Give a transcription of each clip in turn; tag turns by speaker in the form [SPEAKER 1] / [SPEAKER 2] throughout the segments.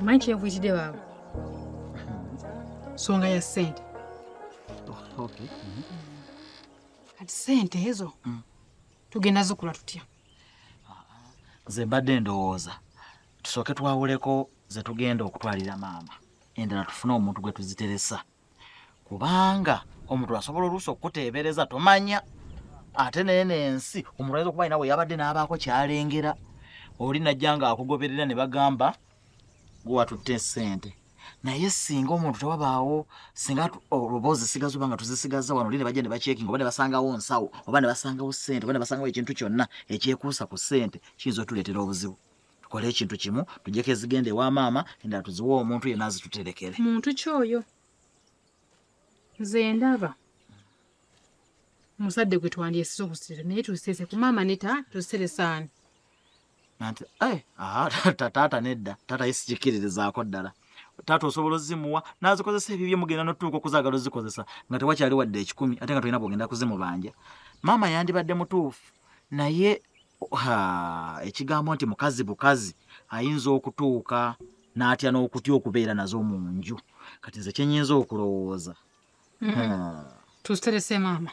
[SPEAKER 1] omanyi kyenvuyitidde baaba nsonga ya ssente kati ssente ezo tugenda zikula tutya
[SPEAKER 2] nze mbadde ndowooza tusooke twawuleko ze tugenda okutwalira maama endala tufune omuntu gwe tuziteresa kubanga omuntu asobola oluusi okukuteebereza tomanya ate naye nensi omuntu ayinza okuba alina we yabadde n'abaako kyalengera oli najja nga akugoberera ne bagamba gwe watutte ssente naye singa omuntu tewabaawo singa oluboozi zisigaza oba nga tuzisigazza wano oli ne bajja ne bakyekinga oba ne basangawo nsawo oba ne basangawo ssente oba ne basangawo ekintu kyonna ekyekuusa ku ssente kiyinza otuleetera obuzibu tukole ekintu kimu tujjeko ezigenda ewa maama endala tuziwe omuntu yena azituterekere muntu kyoyo
[SPEAKER 1] nze ndaba muzadde gwe twandyesiza okusira naye tuziseese ku maama neta tuziseresaani
[SPEAKER 2] nanti eh, taata nedda taata ye sikikiririzaako ddala taata osobola ozimuwa nazikozesa ebyo byemugenda notuuka okuzagala ozikozesa nga tewakyali wadde ekikumi ate nga tolina bwogenda kuzimubanja maama yandibadde mutuufu naye ekigambo nti mukazi bukazi ayinza okutuuka n'atya n'okutya okubeera nazo mu nju kati nze kyenyinza okulowooza
[SPEAKER 1] tuziterese maama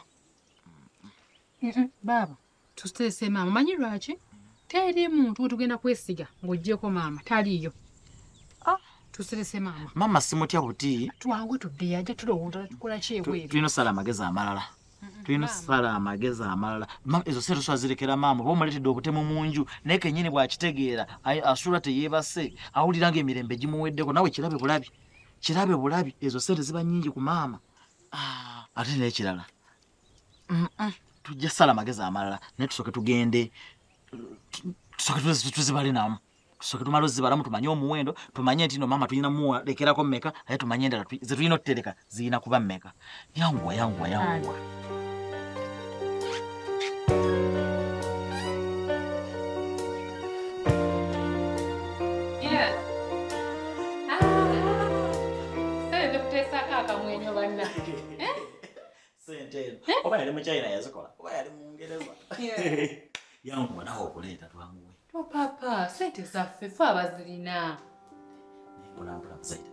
[SPEAKER 1] baaba tuteese maama manyi lwaki teri muntu wetugenda kwesiga ng'ogyeko maama taliiyo ah. tuserese maama maama simutya buti
[SPEAKER 2] twangu tuddeyo ajja
[SPEAKER 1] tulowooza tukola kyebweru tulina osala amagezi amalala
[SPEAKER 2] tulina osala amagezi amalala ezo sente oswazirekera maama oba omuleetedde obutemu mu nju naye kenyini bw'akitegeera asula teyeebase awulira nga emirembe gimuweddeko nawe kirabe bulabi kirabe bulabi ezo sente ziba nyingi ku maama ah. ate n'ekirala tujja sala amagezi amalala naye tusooke tugende tusooke tuzibale namu tusooke tumala ozibalamu tumanye omuwendo tumanye nti no maama tulina mulekerako meka naye tumanye endala zetulina otutereka zirina kuba meka yanguwa yanguwa yanguwa sente eno oba yali muchina yazikola oba yali mungereza yankuba nawe okuleeta twamuwe topapa sente
[SPEAKER 1] zaffe fe abazirina
[SPEAKER 2] mpolampola musaita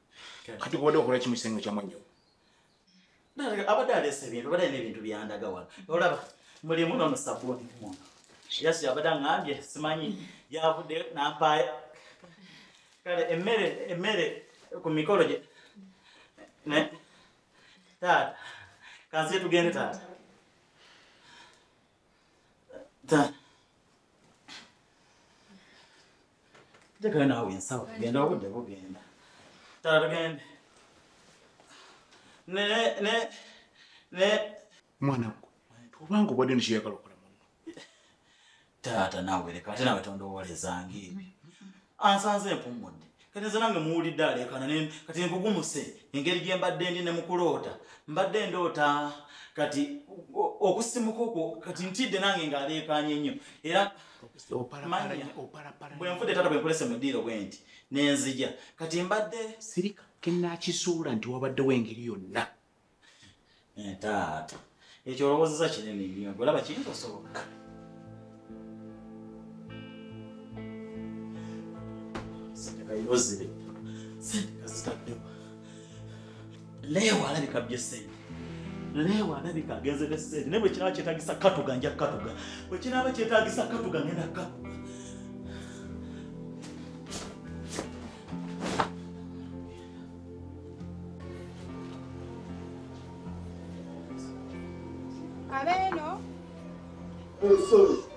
[SPEAKER 3] kati kubadde wakola kimu kisenge kyamu nnyo
[SPEAKER 2] abadde aleesa ebintu abadde alina ebintu byandaga wano olaba mulimu nono sabuuni kumuntu yasi abadde aŋambye simanyi yavudde nampaaya kale emmere emmere ku mikolo gye ne taata kansi yetugende taata njagala naawe ensawo tugenda obudde bugenda tala tugende
[SPEAKER 3] mwana gwe obanga obadde nikyeyagala okola muno
[SPEAKER 2] taata nawe leka ate nawe tondowolezanga ebyo ansanze empummudde kati nze nange muwulidde aleekana kati nkugumuse engeri gye mbadde ndi ne mukuloota mbadde ndoota kati okusimuka okwo kati ntidde nange ngaaleekaanye nnyo era bwenfudde taata bwenkolese mu ddiiro bwe nti nenzija kati mbadde sirika
[SPEAKER 3] kenakizuula nti wabaddewo engeri yonna Eh, taata
[SPEAKER 2] ekyo olowozeza kinene nnyo golaba kiyinza osoboka sentekayozibe sente kazitaddewo leewa alabika bye sente leewa alabika agenze ne sente naye bwekinaaba kyetagisa katuga nja katuga bwekinaaba kyetagisa katuga ngenda katuga
[SPEAKER 4] Abeno.
[SPEAKER 5] Oh, sorry.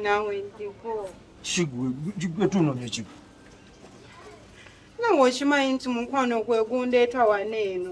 [SPEAKER 4] nawe ndiko
[SPEAKER 5] shigwe tunonye kigo nawe
[SPEAKER 4] okimanyi nti mukwano gwegundeeta wano eno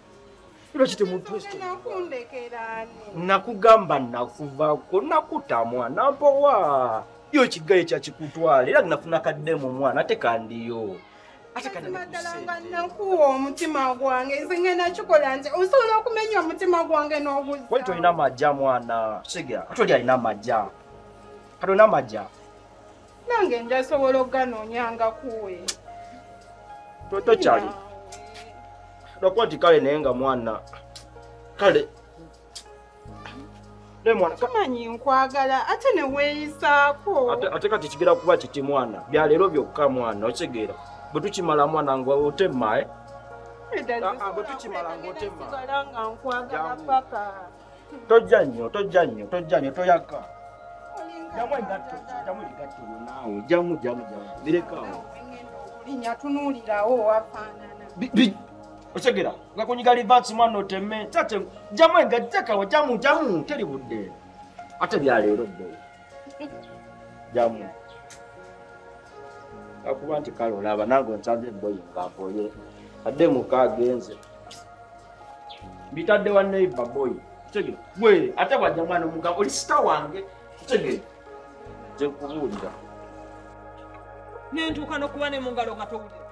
[SPEAKER 4] nakugamba
[SPEAKER 5] nakuvako nakutamwa nampowa yo kigaye kyakikutwala era nafuna kadde mu mwana ate kandiyo nakuwa
[SPEAKER 4] omutima gwange nze ngenda kikola nti osobola okumenya omutima gwange n'obuzi wali tolina majja
[SPEAKER 5] mwana siga ate oli alina majja kati olina majja nange
[SPEAKER 4] njasobola okuganonyanga
[SPEAKER 5] kuwe toto kyali lwakuba ti kale naye nga mwana kale kamanyi nkwagala
[SPEAKER 4] ate neweeyisaako ate kati kigera
[SPEAKER 5] kuba kiti mwana byaleero byokka mwana okitegeera bwe tukimala mwana nga otemmae eh? ah, ah, bwe tukimala nga otemmaa
[SPEAKER 4] tojja
[SPEAKER 5] nnyo tojja nnyo tojja nnyo toyaka jamu egatto jamu egatto naawe jamu jamu jamu birekawo linya
[SPEAKER 4] tunuulirawo wafaanana
[SPEAKER 5] okyegera nga kunyiga livansi mwana oteme tate jamu engattekawo jamu jamu teri budde ate byaleero bo jamu akuba nti kale olaba nange onsanze emboyi ngamboye adde muka agenze bitadde wa neighbor boy kitegere gwe ate bwajja mwana omugamba oli sita wange kitegere nze nkubuulira
[SPEAKER 6] nentuuka nokuba ne mungalo nga
[SPEAKER 7] towulira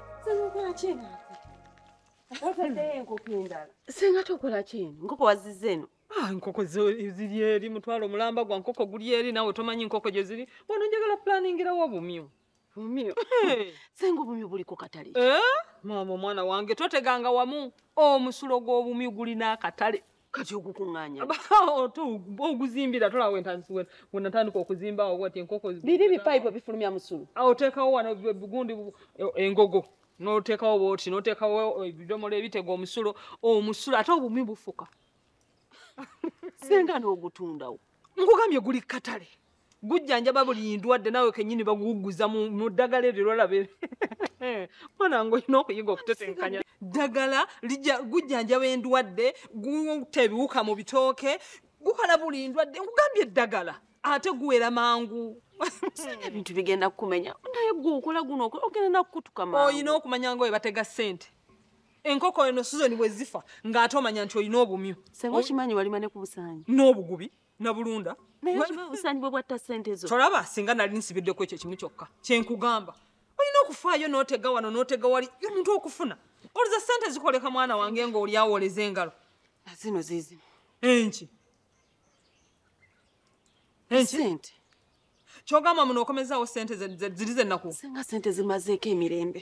[SPEAKER 7] senga tokola
[SPEAKER 6] kyeni nkoko waziza eno ah, enkoko
[SPEAKER 7] ziri eri mutwalo omulamba gwa nkoko guli eri nawe tomanyi nkoko gye ziri bona njagala planingirawo obumyu Bumio. Hey. Sengo
[SPEAKER 6] bumio buli ku katale. Eh? Mama
[SPEAKER 7] mwana wange toteganga wamu omusulo gw'obumyu gulina akatale. Kati
[SPEAKER 6] ogukunganya. Oh, to
[SPEAKER 7] oguzimbira tola wentansi wen when natandika okuzimba awo wati enkoko. Biri bi pipe bifulumya
[SPEAKER 6] musulu. Awo tekawo wano
[SPEAKER 7] bugundi e, engogo. Notekawo boti notekawo ebidomola ebitego omusulo omusulo ate obumyu bufuka. Senga
[SPEAKER 6] n'ogutundawo. Nkugambye guli
[SPEAKER 7] katale. gujjanjaba buli ndwadde nawe kenyini baguguza mu ddagala eryo lwalabe mwana nga olina okuyiga okutetenkanya ddagala gujjanjaba endwadde guta ebiwuka mu bitooke gukola buli ndwadde nkugambye eddagala ate guwera mangu ebintu
[SPEAKER 6] bigenda kukumenya naye gwe okola guno ogenda nakukutuka mangu olina okumanya nga we batega
[SPEAKER 7] ssente enkoko eno sizoni bwe zifa ng'ate omanya nti olina obumyu sebe okimanyi walima ne
[SPEAKER 6] ku busanyi n'obugubi
[SPEAKER 7] nabulunda usanyibwe
[SPEAKER 6] bwatta sente zo tolaba singa nali nsibiddeko
[SPEAKER 7] ekyo kimu kyokka kyenkugamba olina okufaayo notega wano notega wali omuntu okufuna oliza sente zikoleka mwana wange nga oli awoleza engalo zino
[SPEAKER 6] zizimu enki enki
[SPEAKER 7] kyogamba muno okomezaawo sente ziri zenaku singa sente zimazeeko
[SPEAKER 6] emirembe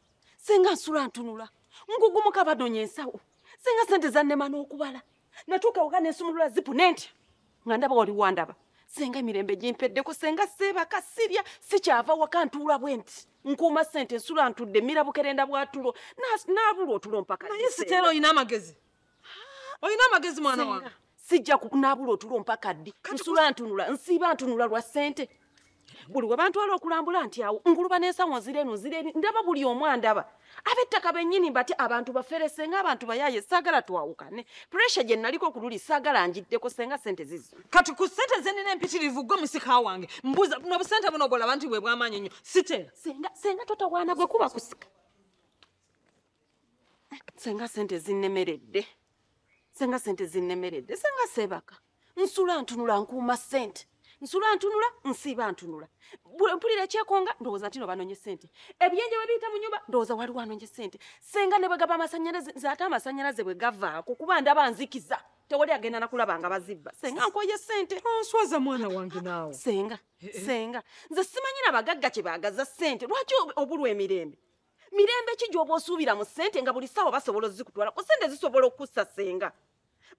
[SPEAKER 6] senga nsula ntunula ngugumuka badonya ensawo senga sente zannema n'okubala natuuka waka nensumulula zipu nentya nga ndaba wali wandaba senga emirembe gimpeddeko senga seebaka sirya sikyava waka ntuula bwe nti nkuuma sente nsula ntudde mirabukerenda bwatulo nabulwa otulo mpaka naye siteera olina
[SPEAKER 7] amagezi olina amagezi mwana wange sijja kunaabula
[SPEAKER 6] otulo mpaka ddi nsula ntunula nsiiba ntunula lwa ssente buli we bantwala okulambula nti awo nguluba n'ensawo nzira eno nzira eri ndaba buli omu andaba ab'ettaka bennyini mbati abantu bafere senga abantu bayaaye saagala twawukane puresha gye naliko ku luli saagala njiddeko senga ssente zizo kati ku ssente ze nina
[SPEAKER 7] empitirivu gwe musika wange mbuuza buno busente buno bwolaba nti bwe bwamaanyi nnyo sitera senga totawaana
[SPEAKER 6] gwe kuba kusika senga sente zinnemeredde senga sente zinnemeredde senga seebaka nsula ntunula nkuuma sente nsula ntunula nsiiba ntunula mpulira ekyekonga ndowooza nti no banonye sente ebyenje bwe biyita mu nyumba ndowooza waliwo anonye sente senga ne bwe gaba amasanyalaze nze ate amasanyalaze bwe gavaako kuba ndaba nzikiza tewali agenda nakulaba nga bazibba senga nkoye sente onswaza mwana wange
[SPEAKER 7] naawe senga senga
[SPEAKER 6] nze simanyi na bagagga kye baagaza sente lwaki obulwa emirembe mirembe ki gy'oba osuubira mu ssente nga buli ssaawa basobola ozikutwala ku ssente zisobola okukussa senga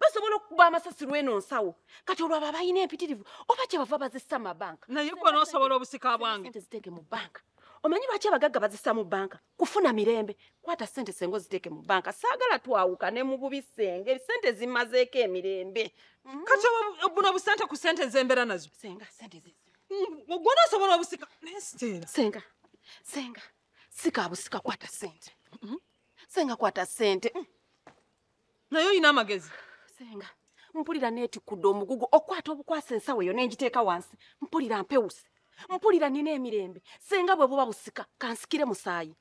[SPEAKER 6] basobola okukuba amasasi lw'eno nsawo kati olwabo abalina empitirivu oba kye bava bazissa mu mabanka naye gwe n'osobola obusika
[SPEAKER 7] bwange sente ziteeke mu banka
[SPEAKER 6] omanyi lwaki abagagga bazissa mu banka kufuna mirembe kwata sente senga oziteeke mu banka saagala twawuka ne mu bubi senga ebisente zimazeeko emirembe mm-hmm. kati
[SPEAKER 7] buno busente ku sente zembeera nazo senga sente zizi
[SPEAKER 6] Ogwo n'osobola
[SPEAKER 7] obusika naye siteera. Senga, senga,
[SPEAKER 6] sika abusika kwata sente. Mm-hmm. Senga kwata sente. Mm.
[SPEAKER 7] Naye olina amagezi. Senga,
[SPEAKER 6] mpulira neetikudde omugugu okwata obukwasa ensawo eyo n'engiteeka wansi. Mpulira mpewuse. Mpulira nina emirembe. Senga bwe buba busika kansikire musaayi.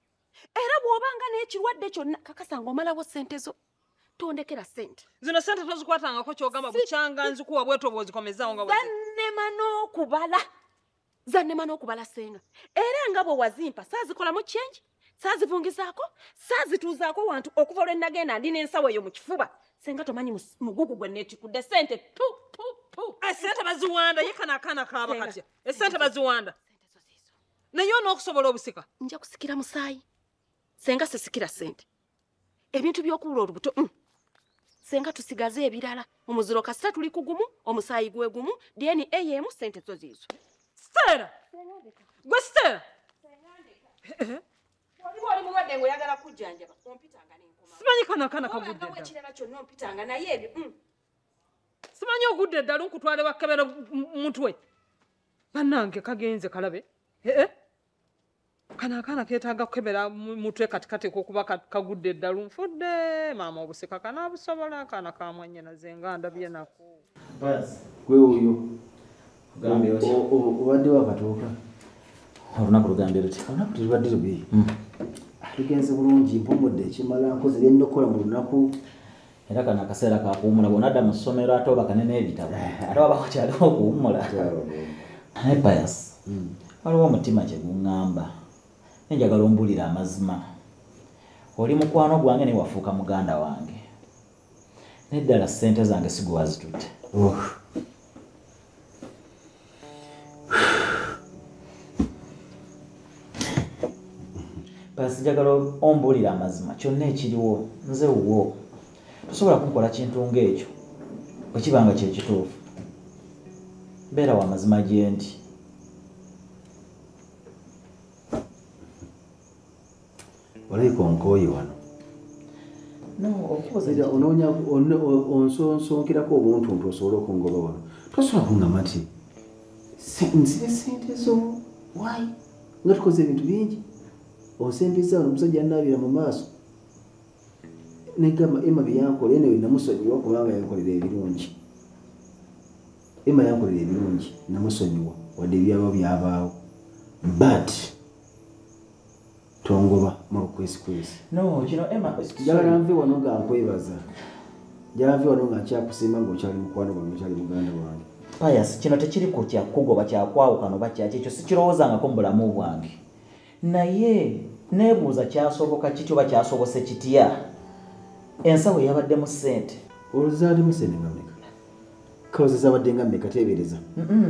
[SPEAKER 6] Era bw'obanga n'ekirwadde kyonna kakasa ng'omalawo sente zo. tondekera sente zino sente tozikwatangako
[SPEAKER 7] kyogamba bukyanga nzikuwa bwetoba ozikomezaawo nga zannema n'okubala
[SPEAKER 6] zannema n'okubala senga era nga bwe wazimpa saazikolamu kyengi saazivungizaako saazituuzaako wantu okuva olwe nagenda ndi n'ensawo eyo mu kifuba senga tomanyi mugugu gwe neetikudde sente tu tu tu eh, sente
[SPEAKER 7] baziwanda ye kana akaana kaaba katya esente eh, baziwanda naye onookusobola obusika nja kusikira musaayi
[SPEAKER 6] senga sisikira sente ebintu by'okubula olubuto mm. senga tusigaze ebirala omuziro kasita tuli kugumu omusaayi gwe gumu dna emu sente zo ziizo sitera
[SPEAKER 7] gwe sitera
[SPEAKER 6] simanyi kanakana
[SPEAKER 7] kaguddekirala kyonna ompitanga
[SPEAKER 6] naye ebyo mm.
[SPEAKER 7] simanyi ogudde eddala nkutwale bakebera mutwe banange kagenze kalabe ee eh, eh. kano akaana ketaaga kukebera mutwe katikati kokuba kagudde eddalu nfudde maama obusika kanabusobola akaana kamwanyinaze nga ndabye nako gwe
[SPEAKER 8] oyo obadde wakatuuka
[SPEAKER 2] olunaku lugambe luti olunaku terubadde lubi
[SPEAKER 8] hmm. lugenze bulungi mpumudde ekimala nkoze byenina okukola mu lunaku era kano
[SPEAKER 2] akaseera kakuwumula bwonadda mu ssomero ate obakane n'ebitabo eh. ate wabako kyaliwo okuwumula naye bayas hmm. waliwo omutima kyeguŋŋamba nenjagala ombulira amazima oli mukwano gwange naye wafuuka muganda wange naye ddala ssente zange sigwewazitutte pasijagala ombuulira amazima kyonna ekiriwo nze wuwo tosobola kunkola kintu ng'ekyo bwe kiba nga kyekituufu mbeera wa mazima gyendi
[SPEAKER 8] olabika onkooye wano onoonya onsonsonkerako obuntuntu osobole okungoba wano tosobola kungamba nti nzire sente zo wayi nga tukoze ebintu bingi onsembeza wano omusajja anaabira mu maaso negamba ema byeyankola eno namusonyiwa kubanga yankolera ebirungi ema yankolera ebirungi namusonyiwa wadde ebyaba byabaawo but tongoba mu lukwisikwisi
[SPEAKER 2] jalanve wano nga
[SPEAKER 8] nkwebaza jalanve wano nga nkyakusiima ngaokyali mukwano gwange okyali muganda wange payas kino tekiri
[SPEAKER 2] ku kyakugoba kyakwawukano bakyaki ekyo sikirowoozangako mu bulamu bwange naye nebuuza kyasoboka kiti oba kyasobose kitya ensawo yabaddemu sente oluzaalimu
[SPEAKER 8] sente kaozi zabadde nga mmeka teebereza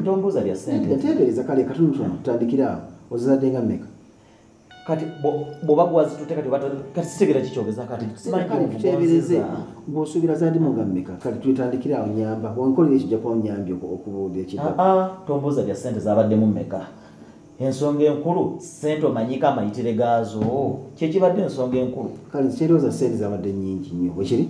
[SPEAKER 8] tombuuza bya
[SPEAKER 2] sente teebereza kale katunutono
[SPEAKER 8] tutandikira awo ozizadde nga mmeka kati
[SPEAKER 2] bwoba gwazitute kati kati sitegera kikyogeza kati teebereze
[SPEAKER 8] gwosuubira zadimu nga mmeka kati twetandikira awo nyamba wankolera ekijja kuba nyambi okubuuda ekida ah, ah, tombuuza bya sente
[SPEAKER 2] zabaddemu mmeka ensonga enkulu sente omanyika amayitire gaazo kyekibadde ensonga enkulu kale nkyerooza sente
[SPEAKER 8] zabadde nyingi nnyo bwekiri